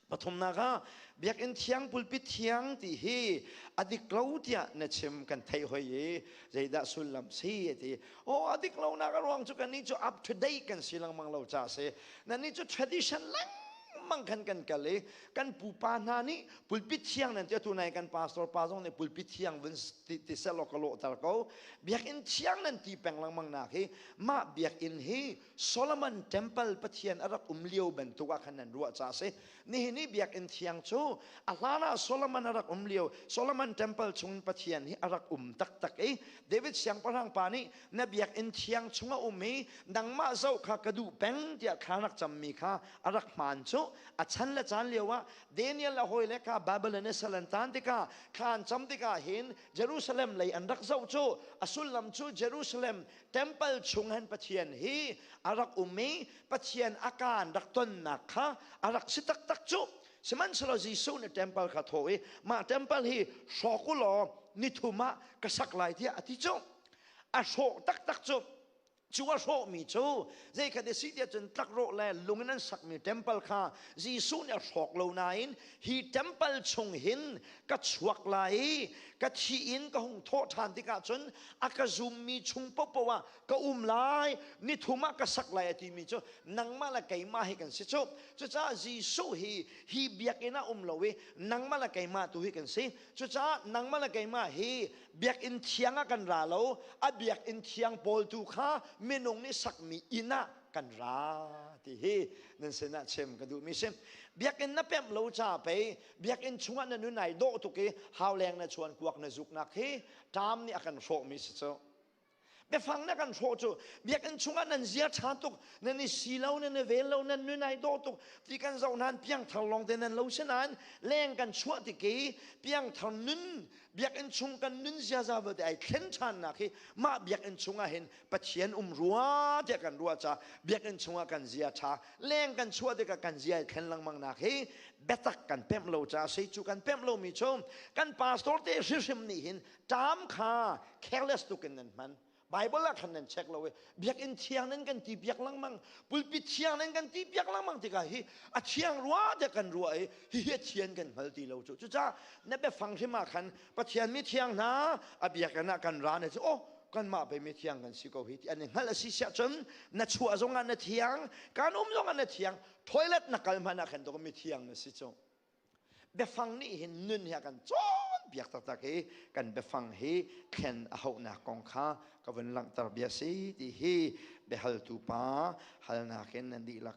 Pathumnak ah Biakinn thiang pulpit thiang ti hi a dik lo tiah na chim kan theih hoi i zeidah sullam si a ti. Oh a dik lonak a ruang cu kan nih cu up to date kan si lengmang lo ca si. Na nih cu tradition lengmang kan kan kal i kan pupa hna nih pulpit thiang nan ti tu nai kan pastor pa zong nih pulpit thiang vun ti ti selaw ka lawhter ko. Biakinn thiang nan ti peng lengmang nak hi mah biakinn hi Solomon temple pathian a rak um lio bantuk ah khan nan ruah ca a si nihin i biakinn thiang cu a hlan ah Solomon a rak um lio Solomon temple chung pathian hi a rak um taktak i David siangpahrang pa nih na biakinn thiang chung a um i nangmah zoh kha ka duh peng tiah thla rak cammi kha a rak hmaan cu a chan le caan lio ah Daniel a hawi le kha Babylon i sal an tan tikah khan cam tikah hin Jerusalem lei an rak zoh cu a sullam cu Jerusalem temple chung hen pathian hi a rak um i pathian a kaan rak tonnak kha a rak si taktak cu sihmanhsehlaw Jesuh nih temple kha thaw i mah temple hi hrawk u law nithum ah ka sak lai tiah a ti cu a hrawh taktak cu cu a hrawhmi cu zeikhat a si tiah cun tlakrawh le lung in an sakmi temple kha Jesuh nih a hrawk lo nain hi temple chung hin ka chuak lai i ka thi in ka hung thawh ṭhan tikah cun a ka zummi chung popoh ah ka um lai nithum ah ka sak lai a timi cu nangmah le keimah hi kan si cu cucaah Jesuh hi hi biakinn ah um lo i nangmah le keimah tu hi kan si cucaah nangmah le keimah hi biakinn thiang ah kan ra lo a biakinn thiang pawl tu kha minung nih sakmi inn ah kan ra ti hi nan sinah chim ka duh mi si biakinn na pemh lo cha pei biakinn chungah na nun ai dawh tuk i hauleng na chuan kuak na zuk nak hi tam nih a kan hrawh mi si cu biafang na kan hrawh cu biakinn chungah nan zia tha tuk nan i si lo nan i vel lo nan nun ai dawh tuk ti kan zoh nan piangthar lawng te nan lo si nan leng kan chuah ti ki piangthar nun biakinn chung kan nun ziaza vate ai thlen than nak hi mah biakinn chungah hin Pathian um rua tiah kan ruah ca biakinn chungah kan zia ṭha leng kan chuah tikah kan zia i thlen lengmang nak hi biatak kan pemh lo caah sei cu kan pemh lomi cu kan pastor te hrihrim nih hin ṭam kha careless tuk in nan hman Bible ah khan nan check lo i biakinn thiang nan kan ti piak lengmang pulpit thiang nan kan ti piak lengmang tikah hi a thiang rua tiah kan ruah i hihi a thian kan hngal ti lo cu cucaah na biafang hrim ah khan Pathian mi thiang hna a biakinn ah kan ra ne cu oh kanmah bei mi thiang kan si ko hi ti an i hngalh a si siah cun na chuah zong ah na thiang kan um zong ah na thiang toilet na kal hmanh ah khan tuk mi thiang na si cu biafang nih hin nun hi a kan cawn biak taktak i kan biafang hi thlen a hauhnak kong kha ka vun langhter bia si ti hi biahaltu pa halnak in nan dihlak